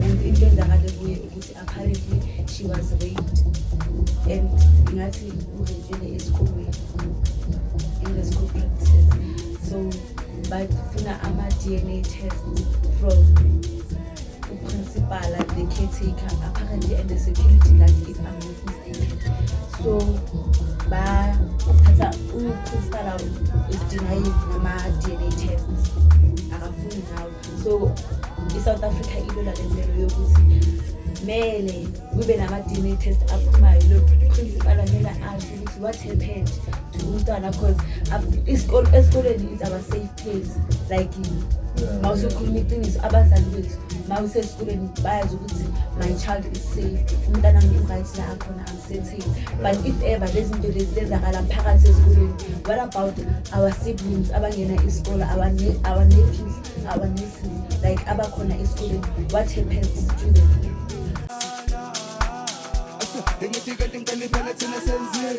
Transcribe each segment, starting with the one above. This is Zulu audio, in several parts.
into enzakale kuye ukuthi apparently she was raped and ngathi urepele esikolweni in the school practices so bafuna ama-dna test from uprincipala the caretaker apparently and the security guard if i'm not mistaken so bathatha uprincipala is denying nama-dna tests akafuni ngawo so i-south africa ilona lempelo yokuthi mele kube nama-dna test aphumayo loprincipal amele asho ukuthi what happened to umntwana because esikoleni is our safe place like ma usukhuluma iqiniso abazali bethu ma usesikoleni bayazi ukuthi my child is safe umntana mntu right la akhona City. But if ever lezinto lezi zenzakala phakathi esikoleni, what about our siblings abangena isikole, our ne- our nephews, our nieces, like abakhona esikoleni? What happens to them? Ngithi kanti ngicela iphela thina senzile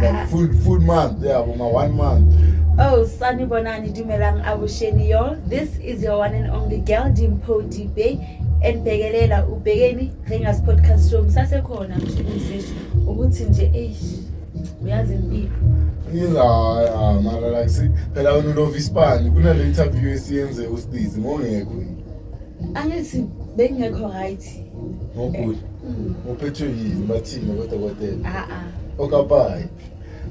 Like full full month, yeah, for my one month. Oh, Sunny Bonani Dumelang Abusheni y'all. This is your one and only girl Dimpo Dibe enibhekelela ubhekeni Ringers Podcast Show. Ngisasekhona mthunzi ukuthi nje eish uyazi impilo. Ngiza ah, mara like si phela wena ulova isipani kunale interview esiyenze uStizi ngongekho yini. Angithi bengekho right. ngogula uphethwe yini bathini kodokotela ah, ah. okapayi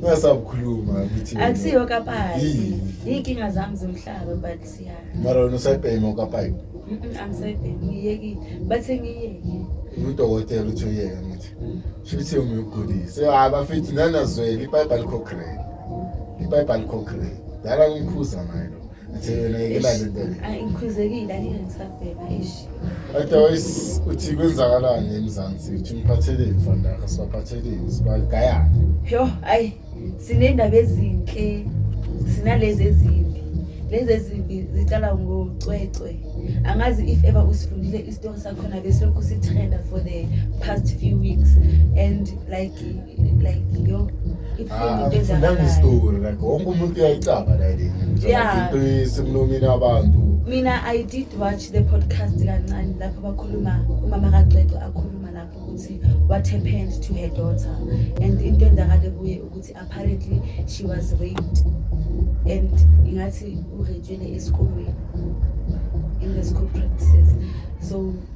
ungasabukhuluma ukuthi akusiyo okapayi iy'nkinga zami zomhlaba but siya mara wena usayibhema okapayi angisayibhemi ngiyekile bathe ngiyeke udokotela uthi uyeke ngithi shuthi umuyogulise hayi bafethu nanazwele ipayipi alikho grade ipayipi alikho grade dala ngimkhuza naye lo ngikhuzekile angeke ngisabhema ishi otherwise uthi kwenzakalani emzansi uthi umphatheleni mfana yakho sibaphatheleni sibagayane yho ayi siney'ndaba ezinhle sinalezi ezimbi lezi ezimbi ziqala ngocwecwe angazi if ever usifundile isitori sakhona besilokhu sithenda for the past few weeks and like like yo ibuhlungu into ngifundanga enzakalayo isitori like wonke umuntu uyayicaba la le Yeah. into isemlomeni abantu mina i did watch the podcast kancane lapho bakhuluma umama kacwecwe akhuluma lapho ukuthi what happened to her daughter and into enzakale kuye ukuthi apparently she was raped and ingathi urejwele esikolweni in the school practices so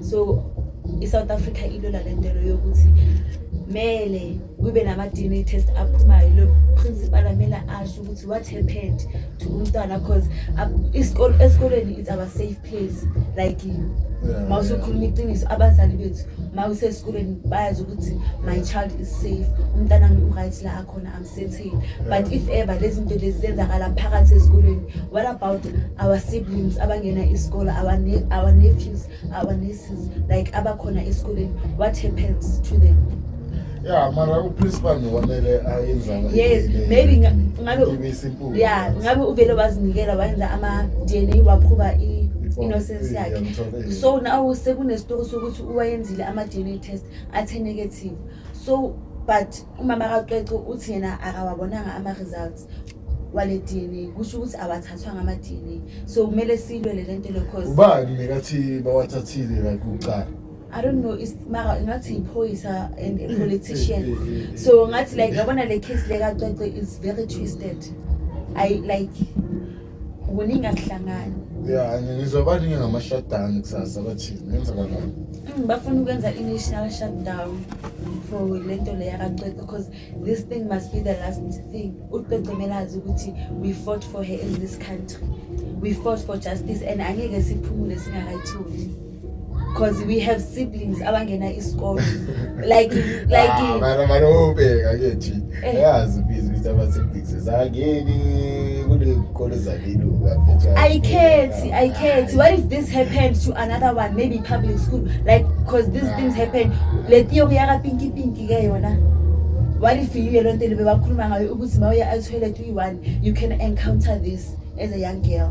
so i-south africa ilwela le ntelo yokuthi mele kube nama-dna test aphumayo lo principal amele asho ukuthi what happened to umntwana because esikolweni it's our safe place like ma usukhuluma iqiniso abazali bethu ma usesikolweni bayazi ukuthi my child is safe umntana ngi-right la akhona sithi but if ever lezi zinto lezi zenzakala phakathi esikolweni what about our siblings abangena isikole our, ne our nephews our nieces like abakhona esikolweni what happens to them ya mara uprincipal nokwamele ayenzana yes maybe ngabe ya ngabe uvele wazinikela wayenza ama-d n a waphuba i-innocence yakhe so naw sekunesitori sokuthi uwayenzile ama-d n a test athe negative so but Umama kaCwecwe uthi yena akawabonanga ama-results wale DNA kusho ukuthi awathathwanga ama-DNA so kumele silwele le nto lokho ubani nekathi bawathathile la kuqala I don't know is mara ngathi iphoyisa and a politician so ngathi like yabona le case le kacwece is very twisted i like kuningi akuhlangani ya ngizwa baningi ngama-shutdown kusasa bathini kwenzakalani Mm, bafuna ukwenza i-national shutdown for le nto le yakacwece because this thing must be the last thing ucwece kumele azi ukuthi we fought for her in this country we fought for justice and angeke siphumule singakayitholi because we have siblings abangena isikole like like ah, mara mara ubheka ke thi eh. yazi busy ukuthi ama siblings zangeni kunezikole zaliluka ayikhethi ayikhethi what if this happened to another one maybe public school like because these things ah. happen le tiyo kuyaka pinky pinky ke yona what if you lento libe bakhuluma ngayo ukuthi mawuya athoilet uyi-one you can encounter this as a young girl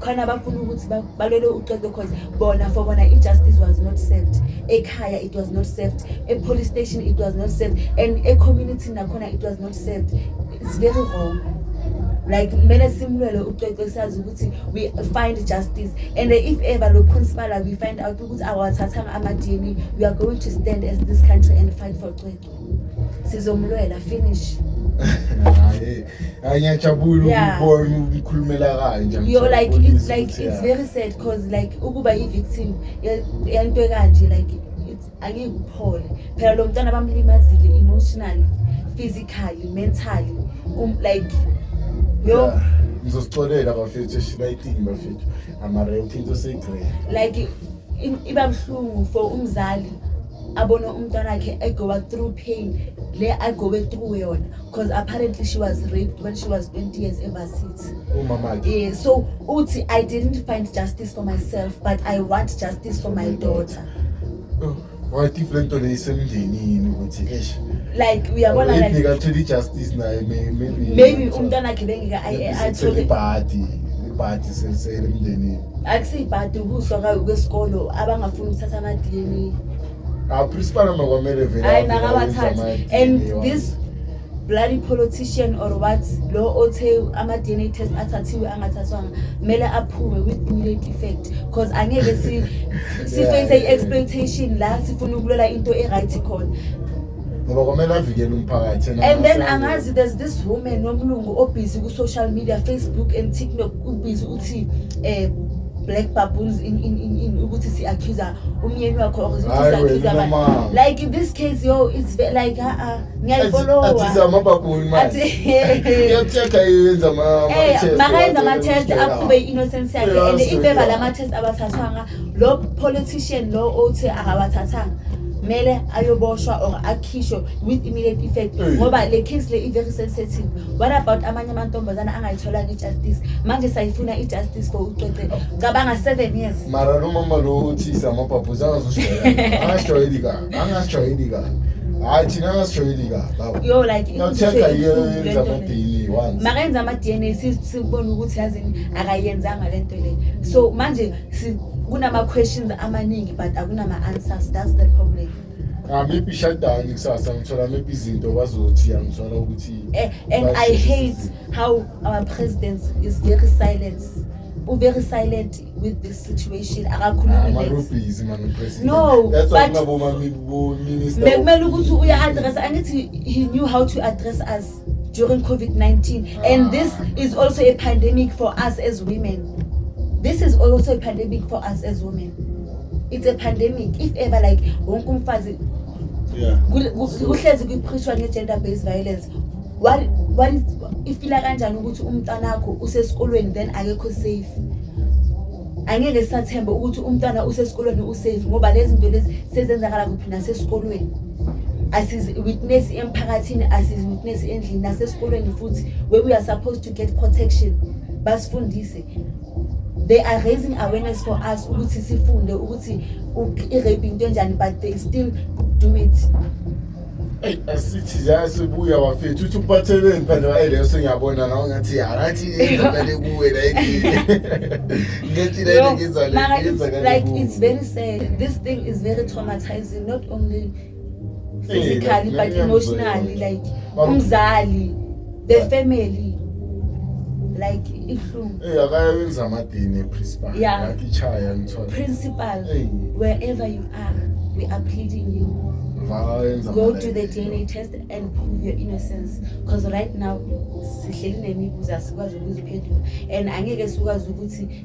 khona abafuna ukuthi balwele uxoxo cause bona for bona i-justice was not served ekhaya it was not served e-police station it was not served and e-community nakhona it was not served it's very wrong like kumele simlwele ucwecwe sazi ukuthi we find justice and if ever lo principal we find out ukuthi awathathanga ama-dna we are going to stand as this country and fight for cwecwe sizomlwela finish ngiyajabula Yeah. ukubona umkhulumela kanje yo like Ngijabulisa it's like ukuthi, it's yeah. very sad cause like ukuba i-victim ye- yento ekanje like it's- angeke uphole phela lo mntwana bamlimazile emotionally physically mentally um, like yo Yeah. ngizosixolela bafethu eshibayitini bafethu amara yonke into seyigcwele like i- iba buhlungu for umzali abone umntwana wakhe egowa through pain le agowe through yona because apparently she was raped when she was 20 years ever since umama yeah, so uthi i didn't find justice for myself but i want justice for my daughter oh, wathi le nto le isemndenini ukuthi eish like uyabona like nikatholi justice naye maybe maybe umntwana akhe bengika athole ibhadi ibhadi sesele emndenini akusibhadi ukuswa kwesikolo abangafuni ukuthatha ama-dna Ah, principal noma kwamele vele. Hayi makawathathe. And this bloody politician or what lo othe ama DNA test athathiwe angathathwanga mele aphume with immediate effect because angeke si si face yeah, exploitation la sifuna ukulwela into e right khona ngoba kwamele avikele umphakathi and then angazi there's this woman nomlungu obhizi ku social media facebook and tiktok ubhizi uthi eh black baboons in, in, in, in ukuthi si-accusa umyeni wakho or ukuthi Hayi wena, si-accusa abantu. mama. like in this case yo it's ve- like uh-uh, aa ngiyayifolowa atizamababuni manje Athi- iyathetha yenza Eh, makayenza ama-test aqhube i-innocence yakhe and Yes, impeva yeah. lama-test abathathwanga lo politician lo othi akawathathanga kumele ayoboshwa or akhishwe with immediate effect Eh. ngoba le case le i-very sensitive what about amanye amantombazana angayitholanga justice manje sayifuna i-justice for ucece cabanga seven years mara lo mama lo uthisa amabhabhuza angazoshoyela angashayeli kabi angashayeli kabi hayi thina angashayeli kabi awu yo like nothenga yenza amadini once makenza ama-dna si- sibone ukuthi yazini akayenzanga le nto le so manje si- kunama-questions amaningi but akunama-answers that's the problem Ngimiphi ishadani kusasa ngithola miphi izinto bazothi angithola ukuthi eh, and I hate how our president is very silent u very silent with this situation akakhulumi ah, busy man president no that's why ngaboma minister bekumele ukuthi uya address angithi he knew how to address us during COVID-19. And this is also a pandemic for us as women. This is also a pandemic for us as women. It's a pandemic. If ever like wonke umfazi Yeah. kul- ku- kuhlezi kuphishwa nge-gender based violence What- what is- ifila kanjani ukuthi umntanakho usesikolweni then akekho safe angeke sisathembe ukuthi umntwana usesikolweni usafe ngoba lezi zinto lezi sezenzakala kuphi nasesikolweni asizi-witness emphakathini asizi-witness endlini nasesikolweni futhi where we are supposed to get protection basifundise they are raising awareness for us ukuthi sifunde ukuthi i-rape into enjani but they still do it eyi asithi ziyasibuya wafethu uthi uphatheleni mphande wayeleyo sengiyabona nawo ngathi yarathi yenzakale kuwe like it's very sad this thing is very traumatizing not only physically but emotionally like umzali the family like ihlungu eh akayenza amadini principal yeah. like ichaya ngithola principal hey. wherever you are we are pleading you go to the DNA test and prove your innocence because right now sihleli nemibuzo asikwazi ukuziphendula and angeke sikwazi ukuthi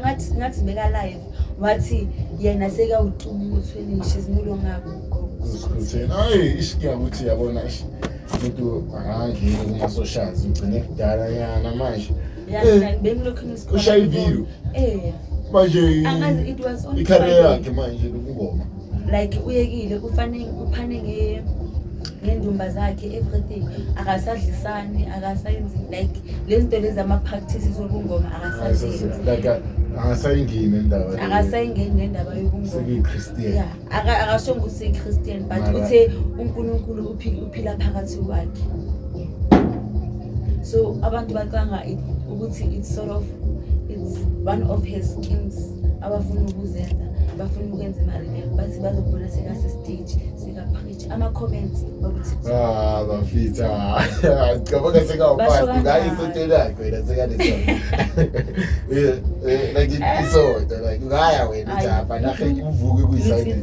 ngathi ngathi beka live wathi yena seka ucuma umuthi wenishe zimulo ngakho uzikhontheni hayi ishiya ukuthi yabona umuntu angangeni kuma socials ugcine kudala yana manje ushaya iviyo manje ikhareya yakhe manje lokungoma like uyekile ufanele uphane nge ngendumba zakhe everything akasadlisani akasayenzi like lezinto lezi ama practices obungoma akasazenzi like akasayingeni indaba akasayingeni nendaba yobungoma yeah akashonga ukuthi Christian but uthe uNkulunkulu uphila phakathi kwakhe so abantu bacanga ukuthi it's sort of it's one of his schemes abafuna ukuzenza bafuna ukwenza imali bathi bazobona sekase stage sikapreach ama-comments okuthi ah, bafitha cabanga sekawupasi ngayo isonto lakho wena sekaneso eh, eh, like isonto like ngaya wena japa nahe uvuke kuyisayini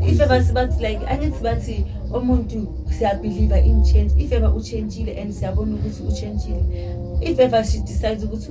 if ever sibathi like angithi bathi umuntu siyabhiliva in change if ever uchentshile and siyabona ukuthi uchentshile if ever she decides ukuthi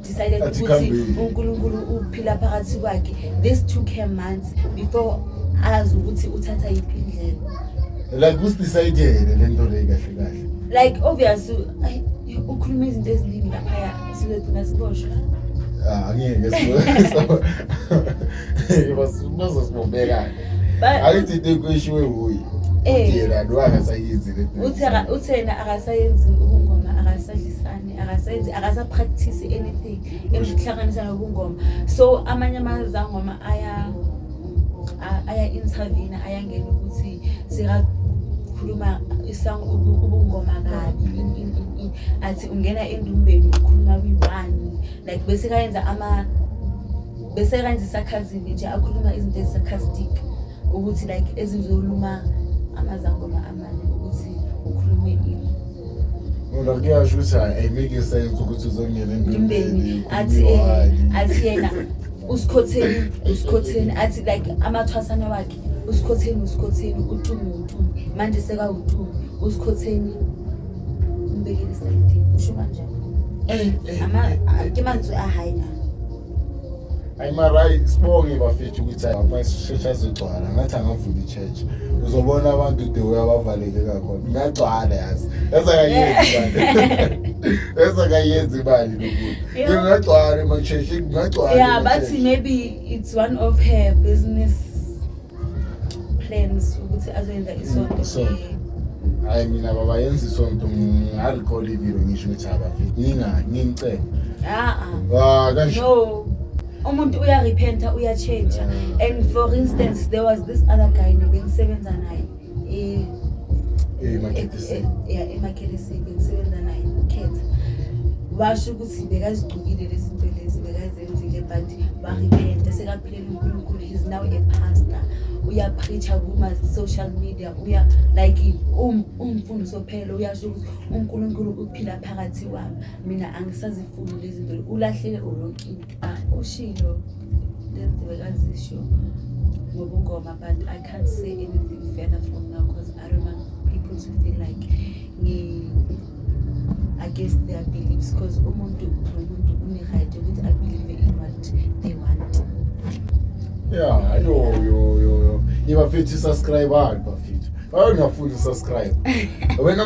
decided Athi ukuthi khambeni. uNkulunkulu uphila phakathi kwakhe this took her months before azi ukuthi uthatha yiphi indlela like usidisayidele le nto leyi kahle kahle like obvious u- ay, ukhuluma izinto eziningi laphaya sibe thina siboshwa Ah, angeke sibo- Bas- bazosibobeka Ba- ayithi into ekuyishiwe wuye Eh. yena lo akasayizi le nto. uthe aka- uthe yena akasayenzi ubungoma akasadlisani akasenzi akasapractice anything emhlanganisa nobungoma so amanye amazangoma aya aya intervene ayangena ukuthi sika ukhuluma isong ubungoma kabi athi ungena endumbeni ukhuluma kwi-one like bese kayenza ama bese kayenza isakhazini nje akhuluma izinto ezisakhazidika ukuthi like ezizoluma amazangoma amane ukuthi ukhulume ini ngoba kuyasho ukuthi ayimeke sense ukuthi uzongena empembeni athi eh, athi yena usikhotheni usikhotheni athi like amathwasana wakhe usikhotheni usikhotheni utumu utumu manje sekawutumu usikhotheni umbekele isayidini usho kanjani eh, eh, ke mantswe a high na ayi mara ayi sibonge bafethu ukuthi amasisheshe azogcwala ngathi angavula i-church uzobona abantu the way abavaleke kakhona ngagcwala yazi yazi akayenzi imali yazi akayenzi imali lokuthi ngagcwala ema-church ngagcwala ya bathi maybe it's one of her business plans ukuthi azoyenza isonto Isonto. hayi mina baba yenza isonto ngingarecord ivideo ngisho ukuthi abafiki nginga- ngingicela aa Ah, kanje no umuntu uyarepenta uyatshentsha and for instance there was this other guy nebengisebenza naye eh emakhelisini yeah emakhelisini ngisebenza naye ukhetha washo ukuthi bekazigcukile lezi zinto lezi bekazenzile but warepenta sekaphilela uNkulunkulu is now a pastor uyapreacha kuma social media uya like um umfundo sophela uyasho ukuthi uNkulunkulu uphila phakathi kwami mina angisazifuni lezi zinto ulahlele ulonkini Ah, ushilo lenziwe kazisho ngobungoma but i can't say anything further from now because i don't want people to feel like ngi against their beliefs because umuntu nomuntu une-right ukuthi abelieve in what they want ya yo yo yo yo ibafithi subscribe hard bafithi bayongafuni subscribe wena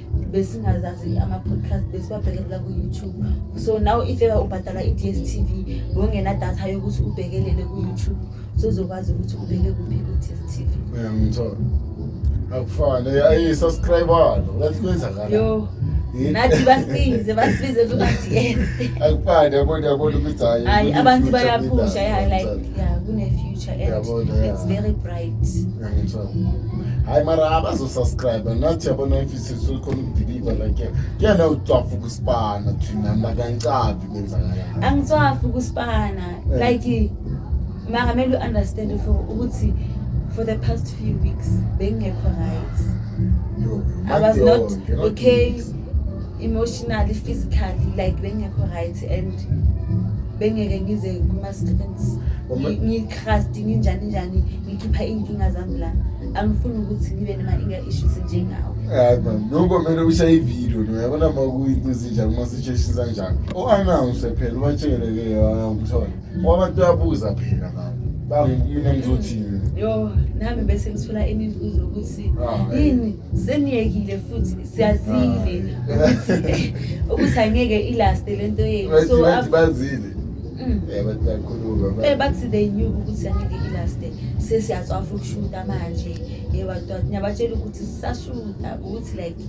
besingazazi ama-podcast besiwabhekelela ku-youtube so now if ever ubhadala i-d s t v ngongenadatha yokuthi ubhekelele ku-youtube sozokwazi ukuthi ubeke kuphi ku-d s t v uyangithola akufane ayisascribalo ngathi kwenzakala yo nathi basibize basibize kuba-ds akufane yabona yabona ukuthi hayi Hayi, abantu abantu bayaphusha, yeah, like, yeah, kune-future. picture and Yabona, yeah. it's very bright. Ngiyangithola. Hayi mara abazo subscribe nathi yabona if isisu khona ukudeliver like kuyena ucwafu kusibana thina makancabi kwenzakala. Angitswafi kusibana Eh. like mara mele u-understand for ukuthi for the past few weeks bengingekho right. Yo, I was yo, not yo, okay emotionally, physically like bengingekho right. and bengeke ngize kuma students ngitrust nginjani njani ngikhipha iy'nkinga zami la angifuni ukuthi ngibe nema-inga issues njengawo hayi man noko kumele ushaye ividiyo no yabona ma kuyinto ezinjani uma situation zanjani o-announce phela ubatshele-ke kuthiwa ngoba abantu bayabuza phela ngabo bangimina ngizothini yo nami bese ngithola imibuzo ukuthi ah, yini seniyekile futhi siyazile ukuthi angeke ilaste le nto yenu so bazile mm. eh, eh, bathi they knew ukuthi angeke ilaste sesiyacwafa ukushuta manje yebatwa eh, niyabatshela ukuthi sisashuta ukuthi like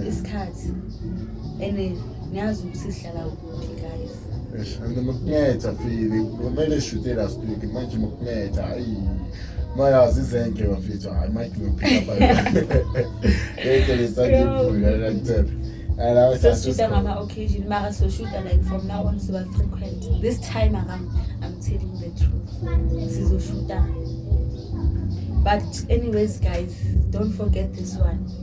isikhathi and niyazi ukuthi sihlala kuphi guys Eish, mina makunetha fili kumele eshute last week manje makunetha ayi mayazi izenke bafethu hayi mike ngiphila pha yeke lesangibhula la kuthepha ala Soshuta ngama occasion mara soshuta like from now on siba frequent. This time around I'm telling the truth. Sizoshuta. But anyways guys, don't forget this one.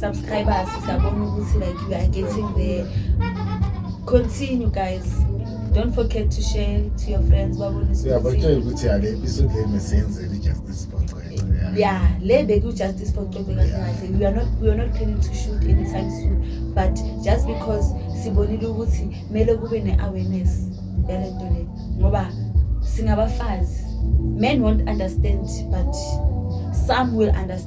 subscribers siyabona ukuthi like we are getting there continue guys don't forget to share to your friends babonise uyabatshela ukuthi yale episode le mesenzeni justice for Cwele yeah le beku justice for Cwele kahle kahle we are not we are not planning to shoot anytime soon but just because sibonile ukuthi mele kube ne awareness yale nto le ngoba singabafazi men won't understand but some will understand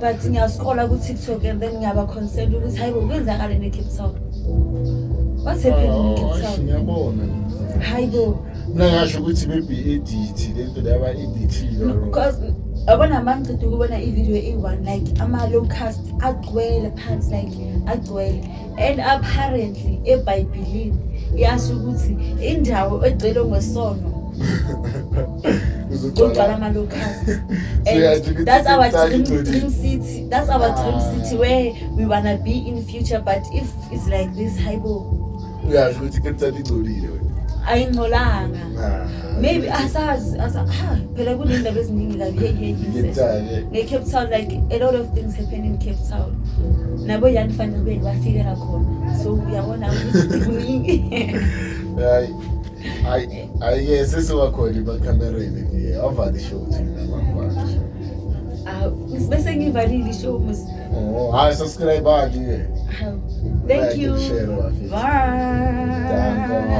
but ngiyazikhola ku-tiktok and then ngiyaba concerned ukuthi hayi kwenzakale ne-cape town what's happening in cape town ngiyabona hayi bo mina ngasho ukuthi maybe edit lento le aba-edithile because yabona mangicida ukubona ivideo eyi-one like ama-low cast agcwele phansi like agcwele and apparently ebhayibhilini yasho ukuthi indawo egcwele ngwesono kugcwala amalokhasi and that's our dream, dream city that's our dream ah. city where we wanna be in future but if it's like this haibo uyasho ukuthi kepthatha ingcolile wena ayingcolanga ah. maybe asazi asa ha phela kunendaba eziningi kabi hey hey Ngithale. nge Cape Town like a lot of things happen in Cape Town nabo yani fanele kube bafikela khona so uyabona ukuthi kuningi Hayi. Hayi, hayi ke sesiwakhona emakamereni nje. Avale show thina mama. Ah, bese ngivalile ishow mus Oh, hayi subscribe ke. Ah, thank Like you and share, bafethu. bye Danko.